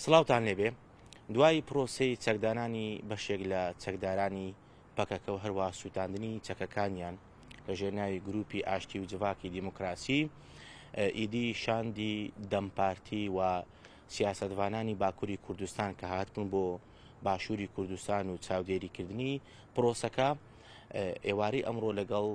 سڵاوتان لێبێ دوای پرۆسەی چەکدانانی بەشێک لە چەکدارانی پەکەکە و هەروە سووتاندنی چەکەکانیان لە ژێرناوی گروپی ئاشتی و جڤاکی دیموکراسی ئیدی شاندی دەمپارتی و سیاستڤانانی باکووری کوردستان کە هاتبوون بۆ باشووری کوردستان و چاودێریکردنی پرۆسەکە ئێوارەی ئەمڕۆ لەگەڵ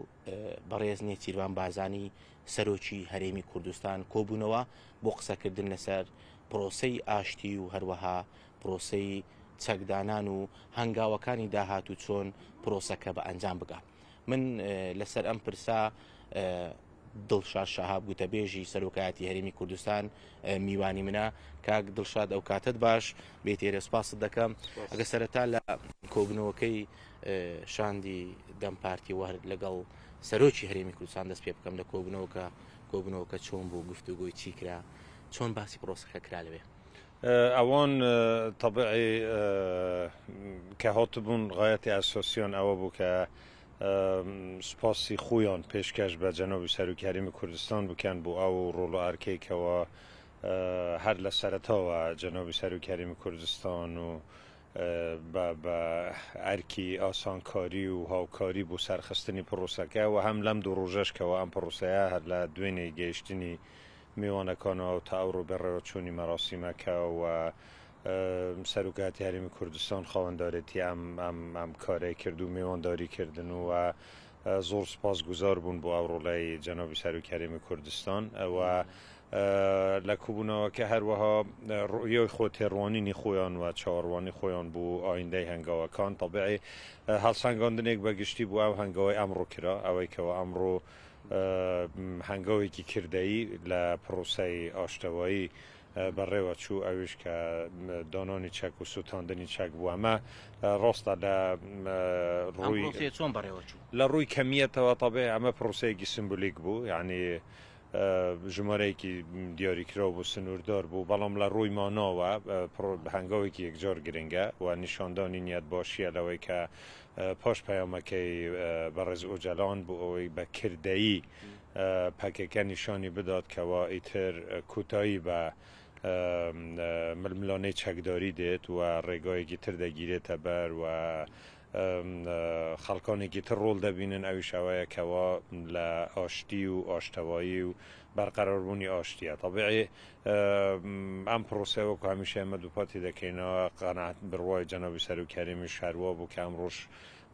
بەڕێز نێچیرڤان بارزانی سەرۆکی هەرێمی کوردستان کۆبوونەوە بۆ قسەکردن لەسەر پرۆسەی ئاشتی و هەروەها پرۆسەی چەکدانان و هەنگاوەکانی داهات و چۆن پرۆسەکە بە ئەنجام بگا من لەسەر ئەم پرسا دڵشاد شەهاب گوتەبێژی سەرۆکایەتی هەرێمی کوردستان میوانی منە کاک دڵشاد ئەو کاتت باش بێتێرە سپاست دەکەم ئەگە سەرەتا لە کۆبنەوەکەی شاندی دەم پارتی و هەر لەگەڵ سەرۆکی هەرێمی کوردستان دەست پێ بکەم لە کۆبنەوەکە کۆبنەوەکە چۆن بوو گفتوگۆی چی کرا چۆن باسی پرۆسەکە کرا لەوێ ئەوان طبعی کە هاتبوون غایەتی ئەسۆسیۆن ئەوە بوو کە سپاسی خۆیان پێشکەش بە جەنەوی سەرروکی هەرمی کوردستان بکەن بۆ ئەو ڕۆڵ ئارکێکەوە هەر لە سەرەتەوە جەنەوی سەرروکی هەرمی کوردستان و بە بە ئەرکی ئاسانکاری و هاوکاری بۆ سەرخستنی پڕۆسەکە و هەم لەم دوو ڕۆژەش کەوا ئەم پڕۆسەیە هەر لە دوێنێ گەیشتنی میوانەکانەوە و تا ئەوڕۆ بەڕێوەچوونی مەراسیمەکە و سەرۆک هاتی هەرێمی کوردستان خاوەندارێتی ئەم ئەم ئەم کارەی کرد و میوانداری کردن و زۆر سپاس گوزار بوون بۆ ئەو ڕۆڵەی جەنابی سەرۆک هەرێمی کوردستان و لە کۆبوونەوەکە هەروەها ڕوئیەی خۆ تێڕوانینی خۆیان و چاوەڕوانی خۆیان بۆ ئایندەی هەنگاوەکان تەبعی هەڵسەنگاندنێک بە گشتی بۆ ئەو هەنگەوەی ئەمڕۆ کرا ئەوەی کەەوە ئەمڕۆ هەنگاوێکی کردەی لە پرۆسای ئاشتەوایی بەڕێوە چوو ئەوش کە دانانی چەک و سووتاندنی چەک بوو ئەمە ڕاستە لە ڕووی چۆن بەڕێوە چوو لە ڕووی کەمیەتەوە تەبێ ئەمە پرۆسەیەکی سمبولیک بوو یعنی ژمارەیەکی دیاریکراو بوو، سنووردار بوو، بەڵام لە ڕووی ماناوە هەنگاوێکی یەکجار گرنگە و نیشاندانی نیەتباشییە لەوەی کە پاش پەیامەکەی بەڕێز ئۆجەلان بۆ ئەوەی بە کردەیی پەکەکە نیشانی بدات کەوا ئیتر کۆتایی بە ململانێی چەکداری دێت و ڕێگایەکی تر دەگیرێتە بەر و خەڵکانێکی تر ڕۆڵ دەبینن ئەویش ئەوەیە کەوا لە ئاشتی و ئاشتەوایی و بەرقەراربوونی ئاشتیە تەبیعی ئەم پرۆسەیە وەکو هەمیشە ئێمە دووپاتی دەکەینەوە قەنات بڕوای جەنابی سەرۆکی هەرێمی شاروا بوو کە ئەمڕۆش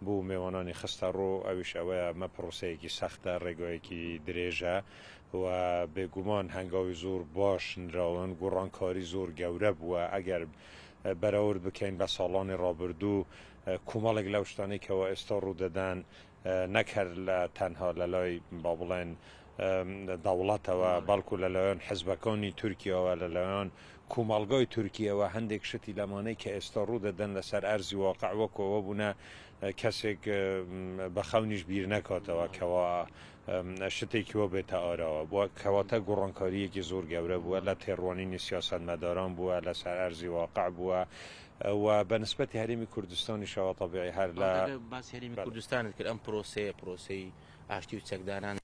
بوو مێوانانی خستە ڕۆ ئەویش ئەوەیە ئەمە پرۆسەیەکی سەختە ڕێگایەکی درێژە و بێگومان هەنگاوی زۆر باش نراون گۆڕانکاری زۆر گەورە بووە ئەگەر بەراورد بکەین بە ساڵانی ڕابردوو کومەڵێک لەو شتانەی کەوا ئێستا ڕوودەدەن نەک هەر لە تەنها لە لای با بڵێن دەوڵەتەوە بەڵکو لەلایەن حزبەکانی تورکیاوە لەلایەن کومەڵگای تورکیەوە هەندێک شتی لەمانەی کە ئێستا ڕوو دەدەن لەسەر ئەرزی واقع وەکەوە بوونە کەسێک بە خەونیش بیر نەکاتەوە کەوا شتێکی وا بێتە ئاراوە بووە، کەواتە گۆڕانکارییەکی زۆر گەورە بووە، لە تێڕوانینی سیاسەتمەداران بووە، لەسەر ئەرزی واقع بووە و بە نسبەتی هەرێمی کوردستانیشەوە تەبیعی هەر لە. بەڵێ ئەگەر باسی هەرێمی کوردستانت کرد، ئەم پرۆسەیە، پرۆسەی ئاشتی و چەکداران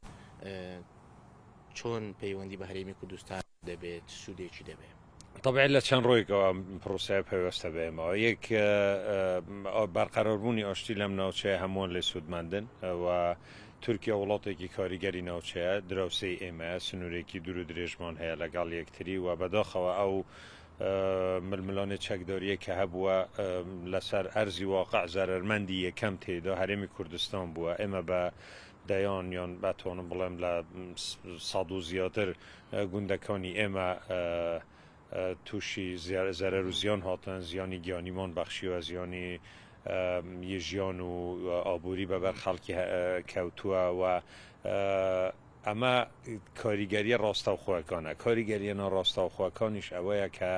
چۆن پەیوەندی بە هەرێمی کوردستان دەبێت، چ سوودێکی دەبێت؟ طبعا لە چەند ڕۆیکەوە پرۆسای پەیوەستە بێمەوە یەک بەرقەرەربوونی ئاشتی لەم ناوچەیە هەمووان لە سوودمەندن و تورکیا وڵاتێکی کاریگەری ناوچەیە دراوسی ئێمە سنوورێکی دوور و درێژمان هەیە لەگەڵ یەکتری و بەداخەوە ئەو ململانێ چەکداریە کە هەبووە لەسەر ئەرزی واقع زەرمەندی یەکەم تێدا هەرێمی کوردستان بووە ئێمە بە دەیان یان بەتوانم بڵێم لە ساڵ و زیاتر گوندەکانی ئێمە تووشی زەرەر و زیان هاتن، زیانی گیانیمان بەخشیوە، زیانی ژیان و ئابووری بە بەر خەڵکی کەوتووە و ئەمە کاریگەرییە ڕاستەوخۆەکانە، کاریگەرییە ناڕاستەوخۆەکانیش ئەوەیە کە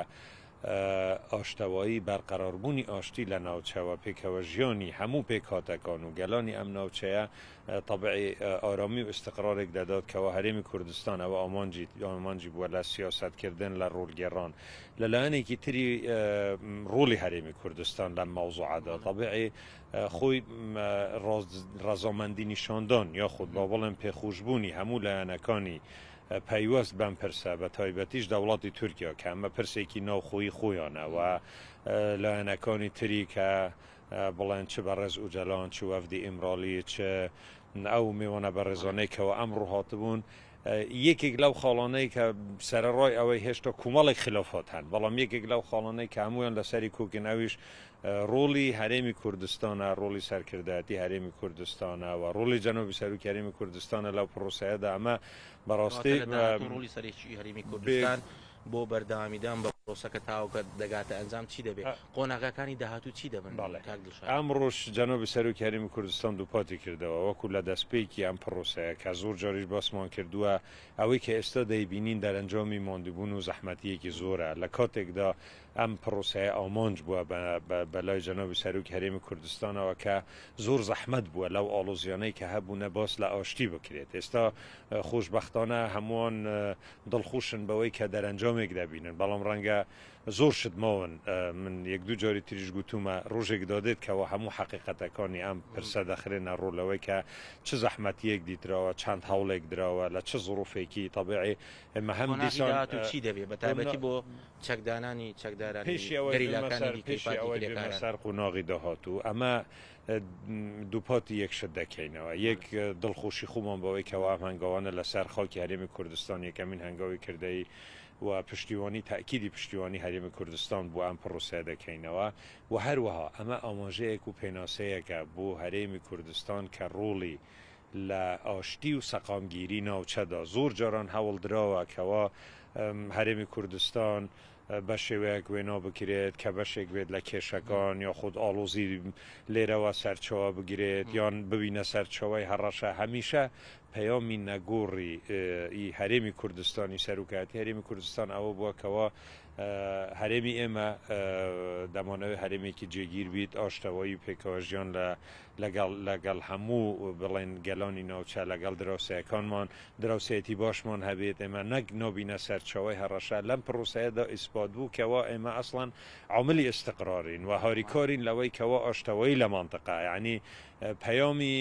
ئاشتەوایی، بەرقەراربوونی ئاشتی لە ناوچە و پێکەوەژیانی هەموو پێکهاتەکان و گەلانی ئەم ناوچەیە تەبعی ئارامی و ئیستقرارێک دەدات کەوا هەرێمی کوردستان ئەوە ئامانجی ئامانجی بووە لە سیاسەتکردن لە ڕۆڵ گێڕان لە لایەنێکی تری ڕۆڵی هەرێمی کوردستان لەم مەوزوعەدا تەبعی خۆی ڕەزامەندی نیشاندان یاخود با بڵێن پێخوشبوونی هەموو لایەنەکانی پەیوەست بەم پرسە بە تایبەتیش دەوڵاتی تورکیا کە ئەمە پرسێکی ناوخۆی خۆیانەوە لایەنەکانی تری کە بڵێن چ بەڕێز ئوجەلان چ وەفدی ئیمراڵی چ ئەو مێوانە بەڕێزانەی کەوا ئەمڕۆ هاتبوون یەکێک لەو خاڵانەی کە سەرڕای ئەوەی هێشتا کومەڵێک خلافات هەن بەڵام یەکێک لەو خاڵانەی کە هەمویان لەسەری کۆکن ئەویش ڕۆڵی هەرێمی کوردستانە ڕۆڵی سەرکردایەتی هەرێمی کوردستانە و ڕۆڵی جەنۆبی سەرروکی هەرێمی کوردستانە لەو پرۆسەیەدا ئەمە بەڕاستی ڕۆڵی سەرێکی هەرێمی کوردستان بۆ بەردەوامیدان بە پرۆسەکە تاوەکە دەگاتە ئەنجام چی دەبێت؟ قۆناغەکانی داهاتوو چی دەبن؟ کاک دڵشاد. ئەمڕۆش جەنابی سەرۆکی هەرێمی کوردستان دووپاتی کردەوە، وەکو لە دەستپێکی ئەم پرۆسەیە کە زۆر جاریش باسمان کردووە، ئەوەی کە ئێستا دەیبینین دەرەنجامی ماندووبوون و زەحمەتییەکی زۆرە، لە کاتێکدا ئەم پرۆسەیە ئامانج بووە بە لای جەنابی سەرۆکی هەرێمی کوردستانەوە کە زۆر زەحمەت بووە لەو ئاڵۆزییانەی کە هەبوونە باس لە ئاشتی بکرێت، ئێستا خۆشبەختانە هەمووان دڵخوشن بەوەی کە دەرەنجامێک دەبینن بەڵام ڕەنگە زۆر شت ماون من یەک دوو جاری تریش گوتومە ڕۆژێک دادێت کەوا هەموو حەقیقەتەکانی ئەم پرسە دەخرێنە ڕوو لەوەی کە چ زەحمەتیەک دیتراوە چەند هەوڵێک دراوە لە چ زڕوفێکی تەبعی ئێمە هەم دیسان چی دەبێت بە تایبەتی بۆ چەکدانانی چەکدارانی گەریلاکانی دیکەی پارتی کرێکاران. پیشی ئەوەی بێمە سەر قۆناغی داهاتوو ئەمە دووپاتی یەک شت دەکەینەوە، یەک دڵخۆشی خۆمان بەوەی کەوا ئەم هەنگاوانە لەسەر خاکی هەرێمی کوردستان یەکەمین هەنگاوی کردەیی و پشتیوانی تەئکیدی پشتیوانی هەرێمی کوردستان بۆ ئەم پڕۆسەیە دەکەینەوە و هەروەها ئەمە ئاماژەیەک و پێناسەیەکە بۆ هەرێمی کوردستان کە ڕۆڵی لە ئاشتی و سەقامگیری ناوچەدا زۆر جاران هەوڵدراوە کەوا هەرێمی کوردستان بەشێوەیەک وێنۆ بکرێت کە بەشێک بێت لە کێشەکان یاخود ئاڵۆزی لێرەوە سەرچاوە بگرێت یان ببینە سەرچاوەی هەڕەشە هەمیشە پەیامی نەگۆڕی ی هەرێمی کوردستانی سەروکایەتی هەرێمی کوردستان ئەوە بووە کەوا هەرێمی ئێمە دەمانەوەی هەرێمێکی جێگیر بیت ئاشتەوایی و پێکەوەژیان لە لەگەڵ لەگەڵ هەموو بڵێن گەلانی ناوچە لەگەڵ دراوسێەکانمان دراوسێتی باشمان هەبێت ئێمە نەک نابینە سەرچاوەی هەڕەشە لەم پڕوسەیەدا ئیسپات بوو کەوا ئێمە ئەسڵەن عاملی ئیستقرارین و هاریکارین لەوەی کەوا ئاشتەوایی لە مەنتقە یانی پەیامی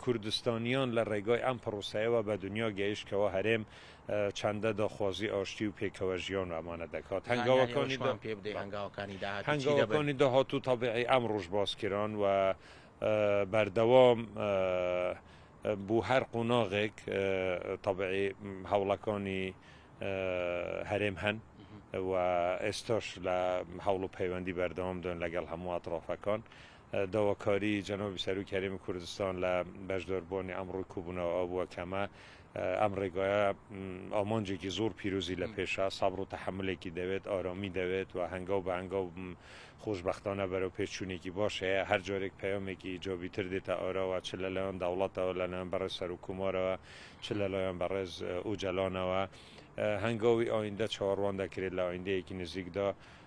کوردستانیان لە ڕێگای ئەم پڕوسەیەوە بە دنیا گەیشت کەوا هەرێم چەندە دڵخۆزی ئاشتی و پێکەوە ژیان ئەمانە دەکات، هەنگاوەکانی پێ بدەی هەنگاوەکانی داهاتوو چی دەبن؟ هەنگاوەکانی داهاتوو تەبیعی ئەمڕۆش باس کران و بەردەوام بۆ هەر قۆناغێک تەبیعی هەوڵەکانی هەرێم هەن و ئێستاش لە هەوڵ و پەیوەندی بەردەوامدان لەگەڵ هەموو ئەترافەکان داواکاری جەنابی سەرۆکی هەرێمی کوردستان لە بەشداربووانی ئەمڕۆی کۆبوونەوە ئەوە بووە کە ئەمە ئەم ڕێگایە ئامانجێکی زۆر پیرۆزی لە پێشە، سەبر و تەحەمولێکی دەوێت، ئارامی دەوێت و هەنگاو بە هەنگاو خۆشبەختانە بەرەو پێش چوونێکی باش هەیە، هەر جارێک پەیامێکی ئیجابی تر دێتە ئاراوە، چ لەلایەن دەوڵەتەوە، لەلایەن بەڕێز سەرۆک کۆمارەوە، چ لەلایەن بەڕێز ئۆجەلانەوە، هەنگاوی ئایندە چاوەڕوان دەکرێت لە ئایندەیەکی نزیکدا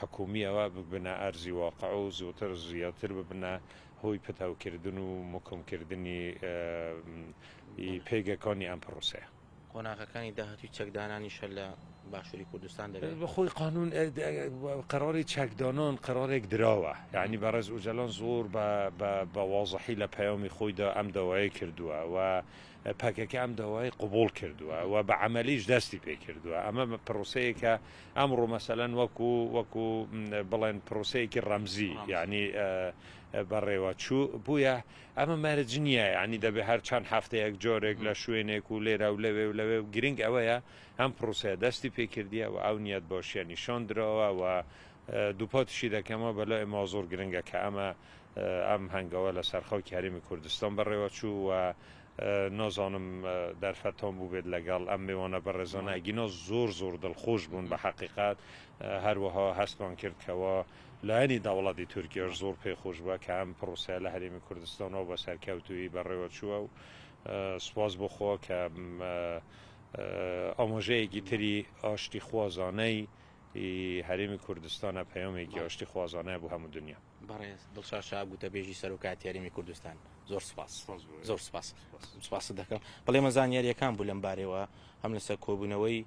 حکومیەوە ببنە ئەرزی واقع و زووتر زیاتر ببنە هۆی پتەوکردن و مکمکردنی ی پێگەکانی ئەم پرۆسەیە. قۆناغەکانی داهاتووی چەکدانانیش هەر لە باشووری کوردستان دەبێ. بەخۆی قانوون قەراری چەکدانان قەرارێک دراوە، یەعنی بەڕێز ئوجەلان زۆر بە بە بە وازحی لە پەیامی خۆیدا ئەم داوایەی کردووە و پەکەکە ئەم داوای قبوڵ کردووە و بە عەمەلیش دەستی پێ کردووە، ئەمە پڕۆسەیەکە ئەمڕۆ مەسەلەن وەکو وەکو بڵێن پڕۆسەیەکی ڕەمزی یانی بەڕێوە چوو بووە، ئەمە مەرج نییە یانی دەبێ هەر چەند هەفتەیەک جۆرێک لە شوێنێک و لێرە و لەوێ و لەوێ و گرنگ ئەوەیە ئەم پڕۆسەیە دەستی پێ کردیە و ئەو نیەت بۆشیە نیشان درەوە و دووپاتیشی دەکەمەوە بەلای ئێمەوە زۆر گرنگە کە ئەمە ئەم هەنگەوە لە سەر خەوکی هەرێمی کوردستان بەڕێوە چوو و نازانم دەرفەتان بووبێت لەگەڵ ئەم مێوانە بەڕێزانە ئەگینا زۆر زۆر دڵخۆش بوون بە حەقیقەت هەروەها هەستمان کرد کەوا لایەنی دەوڵەتی تورکیاش زۆر پێ خۆش بووە کە ئەم پرۆسەیە لە هەرێمی کوردستانەوە بە سەرکەوتوی بەڕێوە چووە و سپاس بخۆ کە ئامۆژەیەکی تری ئاشتی خوازانەی هەرێمی کوردستانە پەیامێکی ئاشتی خوازانەیە بۆ هەموو دنیا. بەڕێز دڵشاد شا گوتەبێژی سەرۆکایەتی هەرێمی کوردستان زۆر سپاس زۆر سپاس سپاست دەکەم بەڵێمە زانیاریەکان بوو لەم بارەوە هەم لەسەر کۆبوونەوەی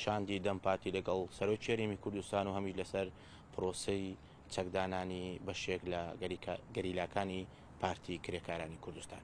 شاندی دەم پارتی لەگەڵ سەرۆکی هەرێمی کوردستان و هەمی لەسەر پرۆسی چەکدانانی بەشێک لە گەریلاکانی پارتی کرێکارانی کوردستان